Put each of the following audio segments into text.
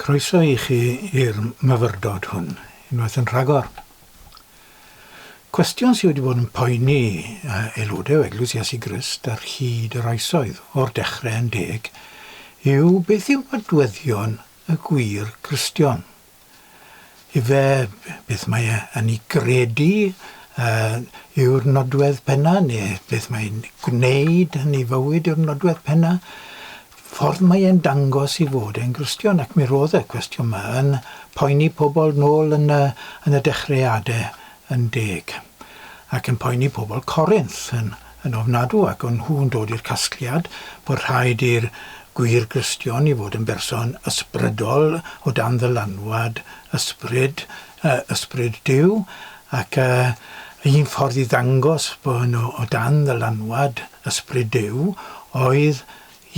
Croeso i chi i'r myfyrdod hwn, unwaith yn rhagor. Cwestiwn sydd wedi bod yn poeni aelodau o Eglwys Iesu Grist ar hyd yr oesoedd, o'r dechrau yn deg, yw beth yw nodweddion y gwir Gristion? Ife, beth mae e yn ei gredu yy yw'r nodwedd penna' ne' beth mae e'n gwneud yn ei fywyd yw'r nodwedd penna'? Ffordd mae e'n dangos ei fod e'n Gristion ac mi ro'dd y cwestiwn 'ma yn poeni pobol nôl yn y yn y dechreade yn deg, ac yn poeni pobl Corinth yn yn ofnadw, ac o'n nhw'n dod i'r casgliad bod rhaid i'r gwir Gristion i fod yn berson ysbrydol o dan ddylanwad ysbryd, yy, ysbryd Duw, ac yy, y un ffordd i ddangos bod nhw o dan ddylanwad ysbryd Duw oedd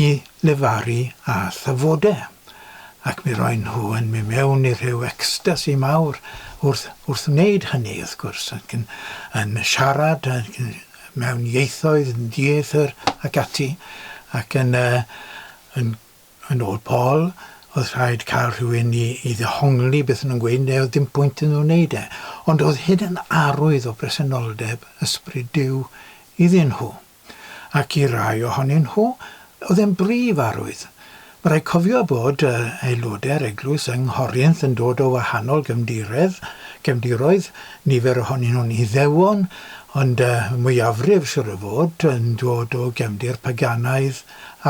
i lefaru â thyfode, ac mi roen nhw yn mi mewn i rhyw ecstasi mawr wrth wrth wneud hynny, wrth gwrs, ac yn yn siarad ac yn mewn ieithoedd yn dieithr ac ati, ac yn yy yn yn ôl Paul, oedd rhaid cael rhywun i i ddehongli beth o'n nhw'n gweud neu oedd dim pwynt iddyn nhw wneud e. Ond oedd hyn yn arwydd o bresenoldeb Ysbryd Duw iddyn nhw. ac i rai ohonyn nhw oedd e'n brif arwydd. Ma' raid cofio bod yy aelodau'r eglwys yng Nghorrinth yn dod o wahanol gefndiredd, gefndiroedd, nifer ohonyn nhw'n Iddewon, ond yy y mwyafrif siŵr o fod yn dod o gefndir paganaidd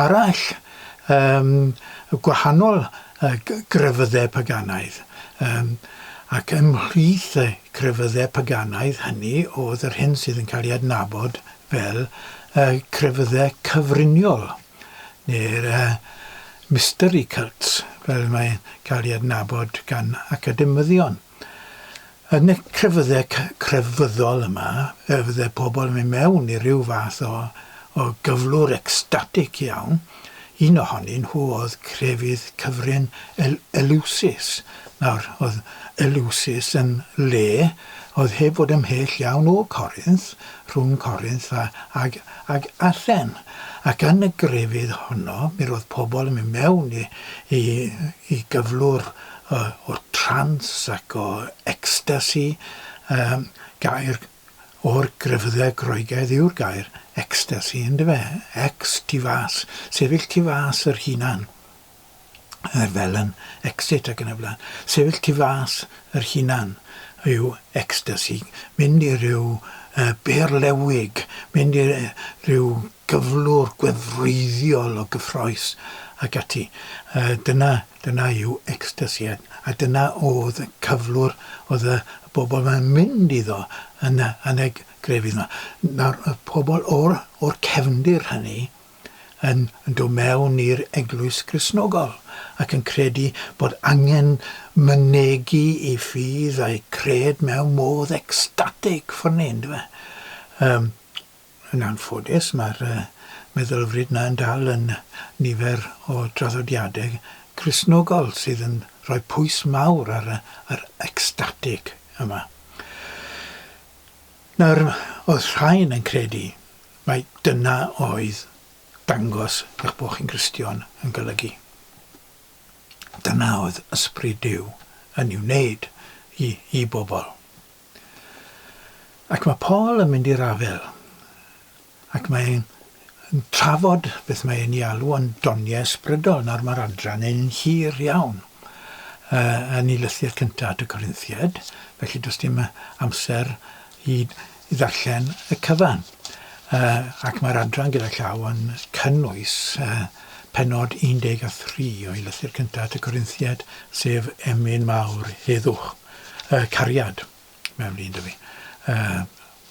arall, yym gwahanol yy g- grefyddau paganaidd, yym ac ymhlith y crefyddau paganaidd hynny oedd yr hyn sydd yn cael ei adnabod fel y crefyddau cyfriniol, neu'r mystery cults fel mae'n cael ei adnabod gan academyddion. Yn y crefyddau crefyddol yma, fe fydde pobl yn mynd mewn i ryw fath o gyflwr ecstatig iawn, Un ohonyn nhw oedd crefydd cyfrin Eleusis. Nawr, oedd Eleusis yn le oedd heb fod ymhell iawn o Corinth, rhwng Corinth ag ag Athen. Ac yn y grefydd honno, mi roedd pobl yn mynd mewn i i i gyflwr o o trance ac o ecstasy, gair o'r grefyddau Groegaidd yw'r gair ecstasy, yndyfe? Ex, tu fas, sefyll tu fas yr hunan, er fel yn exit ac yn y blaen. Sefyll tu fas yr hunan yw ecstasy, mynd i ryw uh, berlewig, mynd i ryw gyflwr gwefreiddiol o gyffroes ac ati. Uh, dyna Dyna yw ecstasi a dyna oedd y cyflwr oedd y bobl yn mynd iddo yn y, yn y grefydd 'ma. Nawr, oedd pobl o'r, o'r cefndir hynny yn, yn dod mewn i'r eglwys Gristnogol ac yn credu bod angen mynegi i ffydd a'i cred mewn modd ecstatig ffyrnu, yndyfe? Yym. Yn anffodus, mae'r meddylfryd yna yn dal yn nifer o draddodiadau Cristnogol sydd yn rhoi pwys mawr ar yr ecstatig yma. Nawr, oedd rhain yn credu mai dyna oedd dangos eich bod chi'n Gristion yn golygu? Dyna oedd Ysbryd Duw yn ei wneud i bobl. Ac mae Paul yn mynd i'r afael, ac mae e'n trafod beth mae e'n ei alw yn doniau ysbrydol. Nawr mae'r adran yn hir iawn uh, yn ei lythyr cyntaf at y Corinthiaid, felly does dim amser i, i ddarllen y cyfan. Uh, ac mae'r adran gyda llaw yn cynnwys uh, penod 13 o'i lythyr cyntaf at y Corinthiaid, sef emyn mawr heddwch. yy cariad mewn un 'da fi. Yy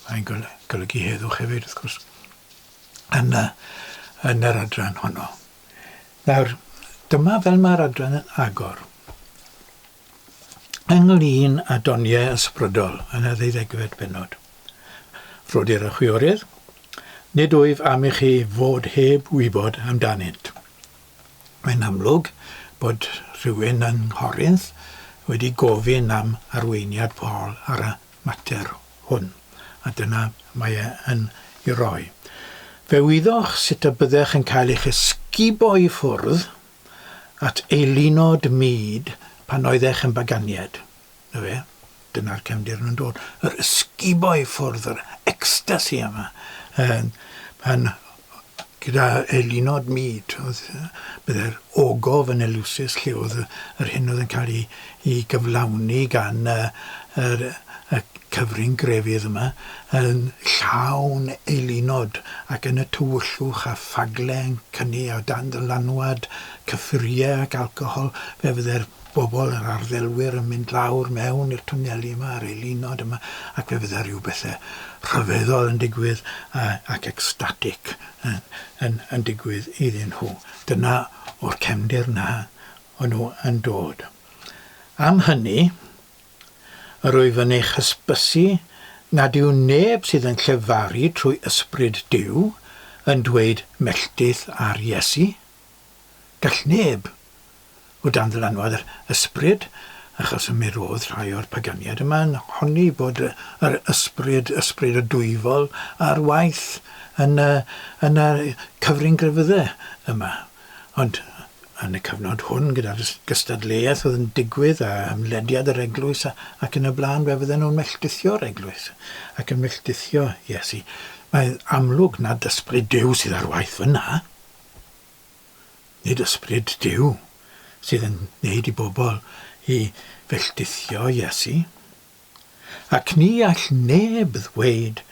mae'n gol- golygu heddwch hefyd wrth gwrs yn y yn yr adran honno. Nawr dyma fel mae'r adran yn agor. Ynglŷn â doniau ysbrydol yn y ddeuddegfed pennod. Rhodir y chwiorydd, nid wyf am i chi fod heb wybod amdanynt. Mae'n amlwg bod rhywun yng Nghorinth wedi gofyn am arweiniad Paul ar y mater hwn, a dyna mae e yn ei roi. Fe wyddoch sut y byddech yn cael eich esgubo i ffwrdd at eilunod mud pan oeddech yn baganiad. 'Na fe, dyna'r cefndir yn dod. Yr ysgubo i ffwrdd, yr ecstasi yma. Um, pan, gyda eilunod myd, oedd, byddai'r ogof yn elusus lle oedd yr hyn oedd yn cael ei, ei gyflawni gan y, y, y cyfrin grefydd yma, yn llawn eilunod ac yn y tywyllwch a ffagle yn cynnu a dan ddylanwad cyffuriau ac alcohol, fe fyddai'r bobl, yr arddilwyr yn mynd lawr mewn i'r twneli yma ar ei linod yma ac fe fydde rhyw bethau rhyfeddol yn digwydd ac ecstatic yn, yn, yn digwydd iddyn nhw. Dyna o'r cefndir na o'n nhw yn dod. Am hynny, yr wyf yn eich hysbysu nad yw neb sydd yn llefaru trwy Ysbryd Duw yn dweud melltith ar Iesu. Gall neb o dan ddylanwad yr ysbryd, achos mi roedd rhai o'r paganiaid yma yn honni bod yr ysbryd, ysbryd y Dwyfol, ar waith yn y, yn y cyfrin grefydde yma. Ond yn y cyfnod hwn, gyda'r gystadleuaeth oedd yn digwydd a ymlediad yr eglwys a, ac yn y blaen, fe fydden nhw'n melltithio'r eglwys ac yn melltithio Iesu. Mae'n amlwg nad ysbryd Duw sydd ar waith fyna. Nid ysbryd Duw sydd yn gwneud i bobl i felltithio Iesu. Ac ni all neb ddweud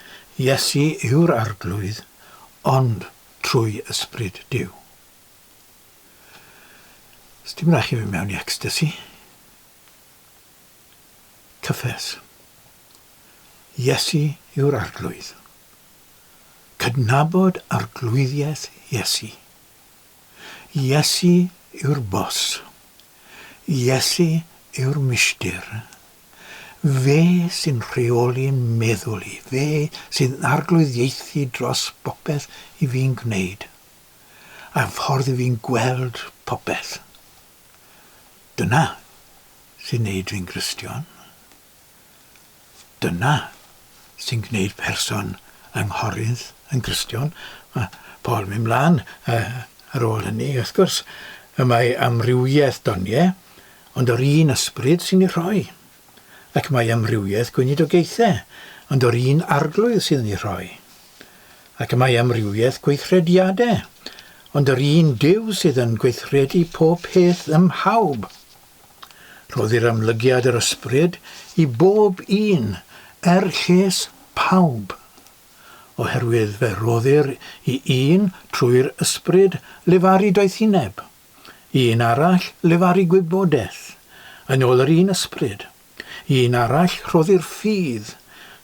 Iesu yw'r Arglwydd ond trwy ysbryd Duw. Sdim rhaid chi fynd mewn i ecstasy. Cyffes. Iesu yw'r Arglwydd. Cydnabod arglwyddiaeth Iesu Iesu yw'r Boss. Iesu yw'r Mistir. Fe sy'n rheoli'n meddwl i, fe sy'n arglwyddiaethu dros bopeth i fi'n gwneud, a'r ffordd i fi'n gweld popeth. Dyna sy'n neud fi'n Gristion. Dyna sy'n gwneud person yng Nghorinth yn Gristion. Mae Paul mynd mlaen ar ôl hynny, wrth gwrs, y mae amrywiaeth doniau, ond o'r un ysbryd sy'n ei rhoi. Ac mae amrywiaeth gweinidogaethau, ond o'r un arglwydd sydd yn ei rhoi. Ac y mae amrywiaeth gweithrediadau, ond yr un Duw sydd yn gweithredu pob peth ym mhawb. Rhoddir amlygiad yr ysbryd i bob un, er lles pawb. Oherwydd fe roddir i un trwy'r ysbryd lefaru doethineb, i un arall lefaru gwybodaeth, yn ôl yr un ysbryd. Un arall rhoddir ffydd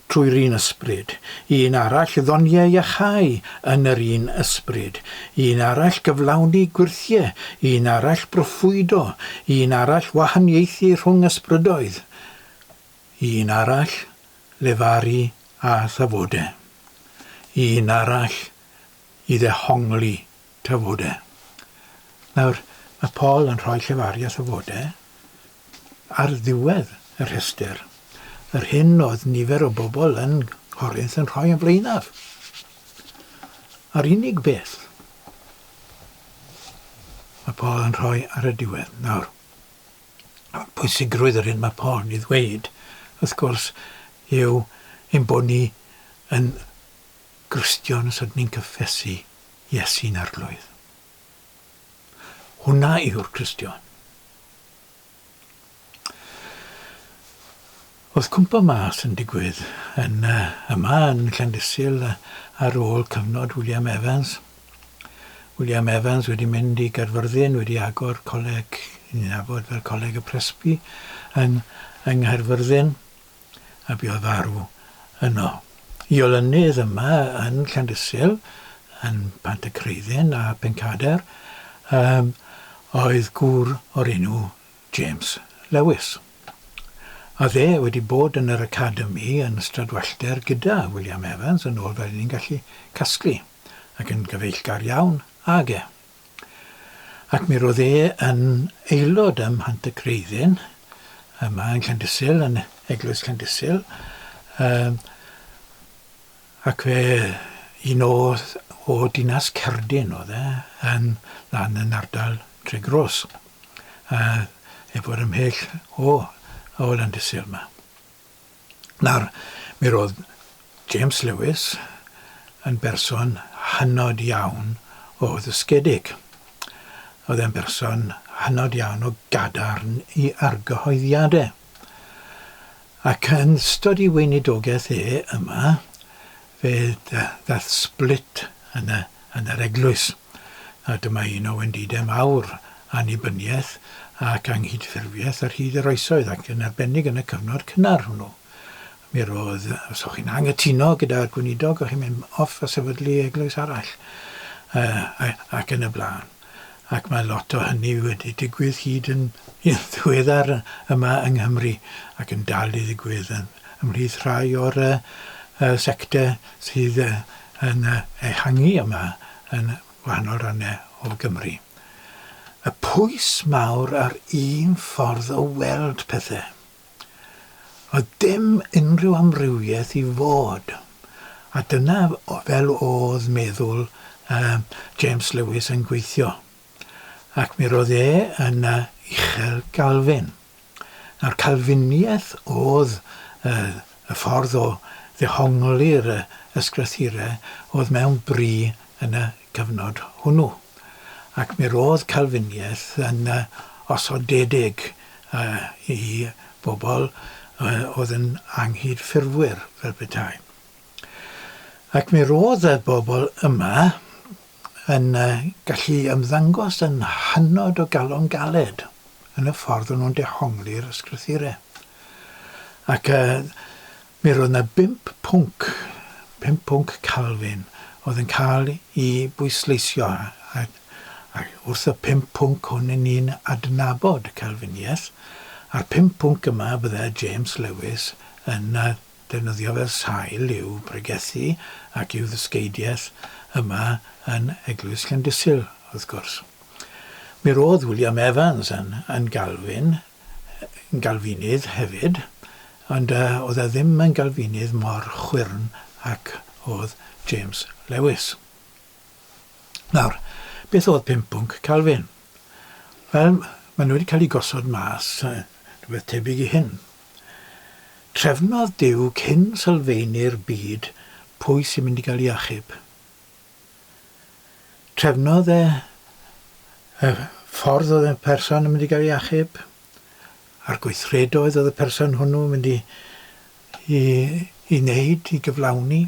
trwy'r un ysbryd, un arall ddoniau iachau yn yr un ysbryd, un arall gyflawni gwyrthiau, un arall broffwydo, un arall wahaniaethu rhwng ysbrydoedd, un arall lefaru a thafodau, un arall i ddehongli Tafode. Nawr, mae Paul yn rhoi llefaru a thafode ar ddiwedd y rhestr, yr hyn oedd nifer o bobl yn Corinth yn rhoi yn flaenaf. A'r unig beth mae Paul yn rhoi ar y diwedd. Nawr, pwysigrwydd yr hyn mae Paul yn ei ddweud, wrth gwrs, yw ein bod ni yn Gristion os ydyn ni'n cyffesu Iesu'n Arglwydd. Hwnna yw'r Cristion. Oedd cwmpo mas yn digwydd yn yma yn Llandysul ar ôl cyfnod William Evans. William Evans wedi mynd i Gaerfyrddin, wedi agor coleg, ni'n nabod fel Coleg y Presby, yng, yng Nghaerfyrddin. a bu o farw yno. Y olynydd yma yn Llandysul, yn Pantycreiddyn a Phencader, yym, oedd gŵr o'r enw James Lewis. A fe wedi bod yn yr Academi yn Stradwellter gyda William Evans yn ôl fel ni'n gallu casglu, ac yn gyfeillgar iawn ag e. Ac mi roedd e yn aelod ym Mhant y Creiddyn, yma yn Llandysul, yn Eglwys Llandysul, um, ac fe un o, o dinas Cerdyn oedd e, yn lan yn ardal Tregros, uh, efo'r ymhell o, o Landysul yma. Nawr, mi roedd James Lewis yn berson hynod iawn o ddysgedig. Oedd e'n berson hynod iawn o gadarn i argyhoeddiadau. Ac yn ystod ei weinidogaeth e yma, fe ddaeth split yn yr eglwys. a dyma un o wendidau mawr annibyniaeth ac anghydffurfiaeth ar hyd yr oesoedd, ac yn arbennig yn y cyfnod cynnar hwnnw. Mi roedd, os o'ch chi'n anghytuno gyda'r gweinidog, o'ch chi'n mynd off a sefydlu eglwys arall, uh, ac yn y blaen. Ac mae lot o hynny wedi digwydd hyd yn ddiweddar yma yng Nghymru, ac yn dal i ddigwydd yn, ymhlith rhai o'r uh, sectau sydd yn ehangu yma yn gwahanol rannau o Gymru. Y pwys mawr ar un ffordd o weld pethau. Oedd dim unrhyw amrywiaeth i fod, a dyna fel oedd meddwl James Lewis yn gweithio, ac mi roedd e yn uchel Galvin. A'r Calfiniaeth oedd y ffordd o ddehongli'r Ysgrythurau oedd mewn bri yn y cyfnod hwnnw. Ac mi roedd Calfiniaeth yn osodedig i bobl oedd yn anghydffurfwyr, fel petai. Ac mi roedd y bobl yma, yn gallu ymddangos yn hynod o galon galed yn y ffordd o'n nhw'n dehongli'r ysgrythure. Ac uh, mi roedd yna bimp pwnc, pimp pwnc Calvin, oedd yn cael i bwysleisio, a, a wrth y pimp pwnc hwn yn ni'n adnabod Calviniaeth, a'r pimp pwnc yma bydde James Lewis yn uh, defnyddio fel sail i'w bregethu ac i'w ddysgeidiaeth yma yn Eglwys Llandysul, wrth gwrs. Mi roedd William Evans yn yn Galfin, yn Galfinydd hefyd, ond yy oedd e ddim yn Galfinydd mor chwyrn ac oedd James Lewis. Nawr, beth oedd pum pwnc Calfin? Wel, maen nhw wedi cael eu gosod mas, rhywbeth tebyg i hyn. Trefnodd Duw cyn sylfaenu'r byd pwy sy'n mynd i gael ei achub. Trefnodd e y ffordd oedd y person yn mynd i gael ei achub, a'r gweithredoedd oedd y person hwnnw yn mynd i, i, i wneud, i gyflawni.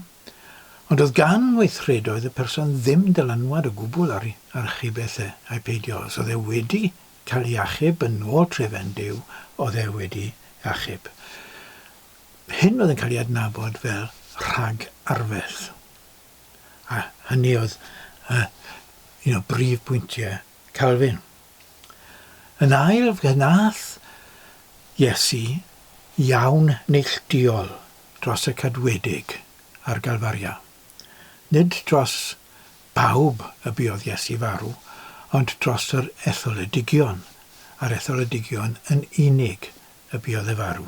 Ond oedd gan weithredoedd y person ddim dylanwad o gwbl ar, ar chybeth e, a'i peidio, os oedd e wedi cael ei achub yn ôl trefen Duw oedd e wedi achub. Hyn oedd yn cael ei adnabod fel rhag arferth. A hynny oedd uh, un o brif bwyntiau Calvin. Yn ail, fe nath Iesu iawn neilltuol dros y cadwedig a'r galfaria. Nid dros bawb y buodd Iesu farw, ond dros yr etholedigion, a'r etholedigion yn unig y buodd e farw,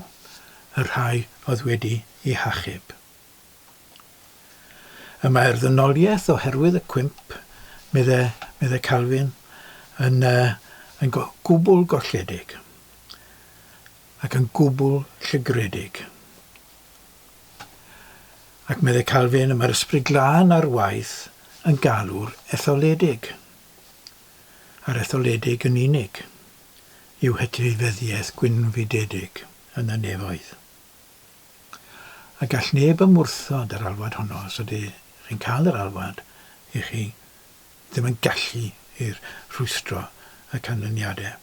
y rhai oedd wedi eu hachub. Y mae'r ddynoliaeth oherwydd y cwymp, medde, medde Calvin, yn, uh, yn go, gwbl golledig ac yn gwbl llygredig. Ac medde Calvin, mae'r Ysbryd Glân ar waith yn galw'r etholedig, a'r etholedig yn unig, i'w hetifeddiaeth gwynfydedig yn y nefoedd. A gall neb ymwrthod yr alwad honno, os ydych chi'n cael yr alwad, i chi ddim yn gallu i'r rhwystro y canlyniadau.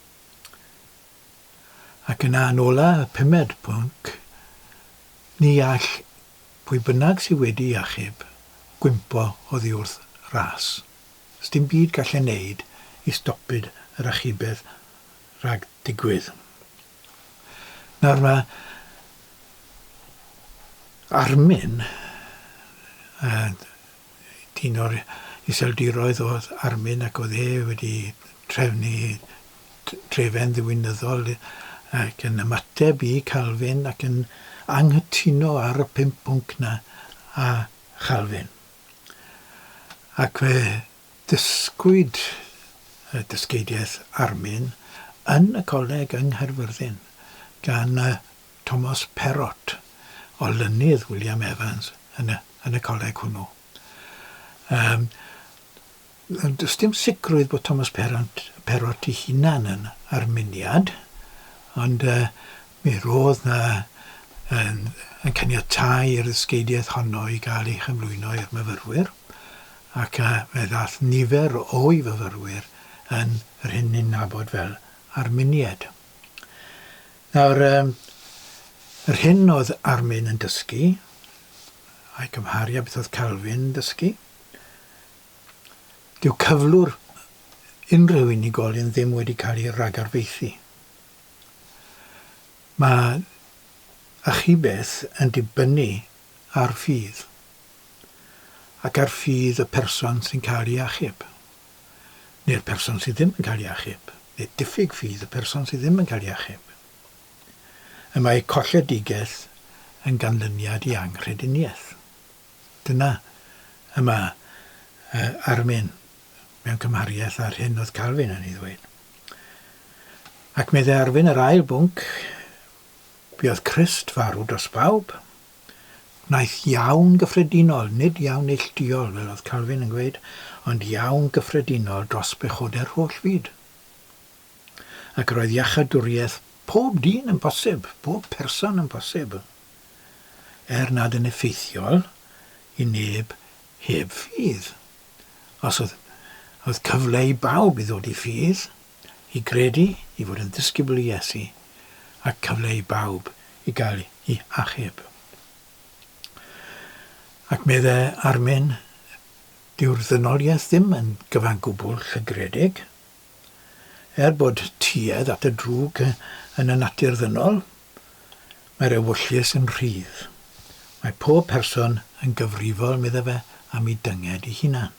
Ac yna yn ola y pumed pwnc, ni all pwy bynnag sy wedi'i achub gwympo oddi wrth ras. Sdim byd gallen neud i stopid yr achubedd rhag digwydd. Nawr mae Armin, dyn o'r Iseldiroedd oedd Armin ac oedd e wedi trefnu trefen ddiwinyddol ac yn ymateb i Calvin ac yn anghytuno ar y pump pwnc 'na â Chalfin. Ac fe ddysgwyd y dysgeidiaeth Armin yn y coleg yng Nghaerfyrddin gan y Thomas Perrott, olynydd William Evans yn y yn y coleg hwnnw. Yym does dim sicrwydd bod Thomas Perrott, Perrott ei hunan yn arminiad, ond uh, mi roedd na yn, yn caniatau i'r ddysgeidiaeth honno i gael ei chyflwyno i'r myfyrwyr, ac uh, fe ddath nifer o'i fyfyrwyr yn yr hyn ni'n nabod fel arminiad. Nawr, um, yr hyn oedd Armin yn dysgu, a'i cymharu a beth oedd Calvin yn dysgu, dyw cyflwr unrhyw unigolyn ddim wedi cael ei ragarfeithi. Mae achubeth yn dibynnu ar ffydd ac ar ffydd y person sy'n cael ei achub. neu'r person sydd ddim yn cael ei achub, neu diffyg ffydd y person sydd ddim yn cael ei achub. Y mae colledigaeth yn ganlyniad i anghrediniaeth. Dyna y mae uh, Armin mewn cymhariaeth â'r hyn oedd Calvin yn ei ddweud. Ac meddai Arwyn yr ail bwnc, buodd Christ farw dros bawb, Wnaeth iawn gyffredinol, nid iawn neillduol, fel oedd Calvin yn gweud, ond iawn gyffredinol dros bechodau'r holl fyd. Ac roedd iachadwriaeth pob dyn yn bosib, pob person yn bosib, er nad yn effeithiol i neb heb ffydd. Os oedd oedd cyfle i bawb i ddod i ffydd, i gredu, i fod yn ddisgybl i Iesu, a cyfle i bawb i gael eu hachub. Ac medde Armin, dyw'r ddynoliaeth ddim yn gyfangwbl llygredig. Er bod tuedd at y drwg yn y natur ddynol, mae'r ewyllys yn rhydd. Mae pob person yn gyfrifol, medde fe, am ei dynged ei hunan.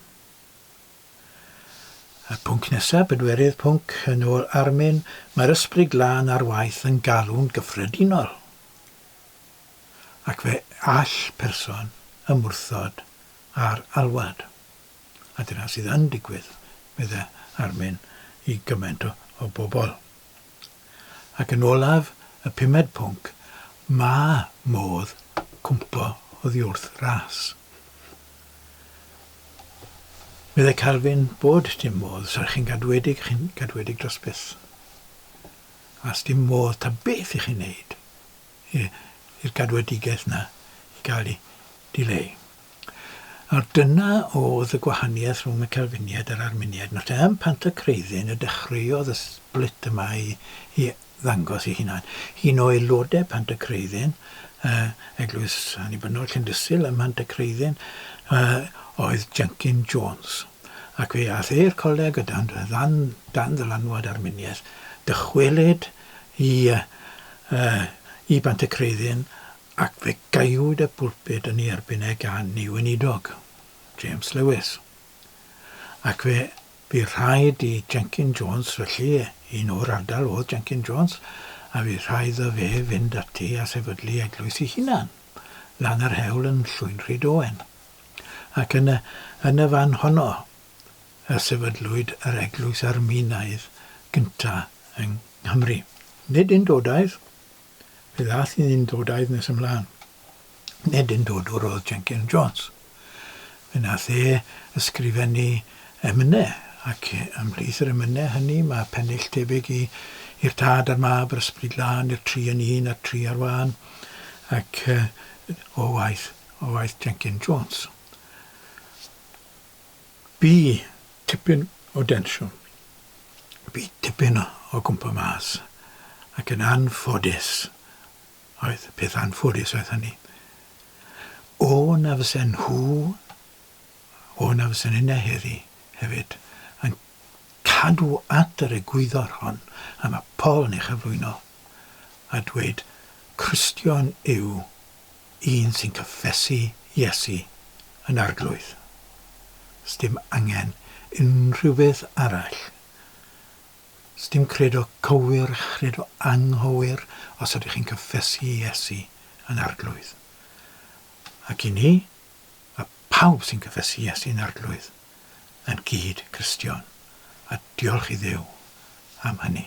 Y pwnc nesaf, bedwerydd pwnc, yn ôl Armin, mae'r Ysbryd Glân ar waith yn galw'n gyffredinol. Ac fe all person ymwrthod â'r alwad. A dyna sydd yn digwydd, meddai Armin, i gymaint o bobl. Ac yn olaf, y pumed pwnc, mae modd cwympo oddiwrth ras. Meddai Calvin bod dim modd, os ydych chi'n gadwedig, chi'n gadwedig dros byth. A dim modd ta beth i chi'n neud i'r gadwedigaeth yna i gael ei dileu. Nawr, dyna oedd y gwahaniaeth rhwng y Calfiniaid a'r Arminiaid. Nawr te, ym Mhantacreiddyn y dechreuodd y sblit yma i ddangos ei hunan. Un o aelodau Pantacreiddyn, Eglwys Annibynnol Llindysul ym Mhantacreiddyn, oedd Jenkin Jones, ac fe aeth e i'r coleg o dan ddylanwad Arminiaeth. Dychwelyd i Bantacreiddyn Ac fe gaewyd y pulpud yn ei erbyn e gan ei weinidog, James Lewis. Ac fe fu rhaid i Jenkin Jones, felly, un o'r ardal oedd Jenkin Jones, a fu rhaid iddo fe fynd ati a sefydlu eglwys ei hunan, lan yr hewl yn Llwyn Rhyd Owen. Ac yn y, yn y fan honno y sefydlwyd yr eglwys Arminaidd gynta yng Nghymru. Nid undodaidd, Fe ddaeth un yn dod a'i ddynes ymlaen. Nid yn dodwr oedd Jenkin Jones. Fe wnaeth e ysgrifennu emynau, ac ymhlith yr emynau hynny mae pennill tebyg i I'r Tad a'r Mab a'r Ysbryd Glân, I'r Tri yn Un a'r Tri ar Wân, ac o waith, o waith Jenkin Jones. Bu tipyn o densiwn. Bu tipyn o gwmpo mas. Ac yn anffodus, oedd, peth anffodus oedd hynny, o na fysen nhw, o na fysen inne heddi hefyd, yn cadw at yr egwyddor hon a mae Paul yn ei chyflwyno a dweud, Cristion yw Un sy'n cyffesu Iesu yn Arglwydd. Sdim angen unrhyw beth arall. Sdim credo cywir, chredo anghywir os ydych chi'n cyffesu Iesu yn Arglwydd. Ac i ni, a phawb sy'n cyffesu Iesu yn Arglwydd, yn gyd Cristion. A diolch i Dduw am hynny.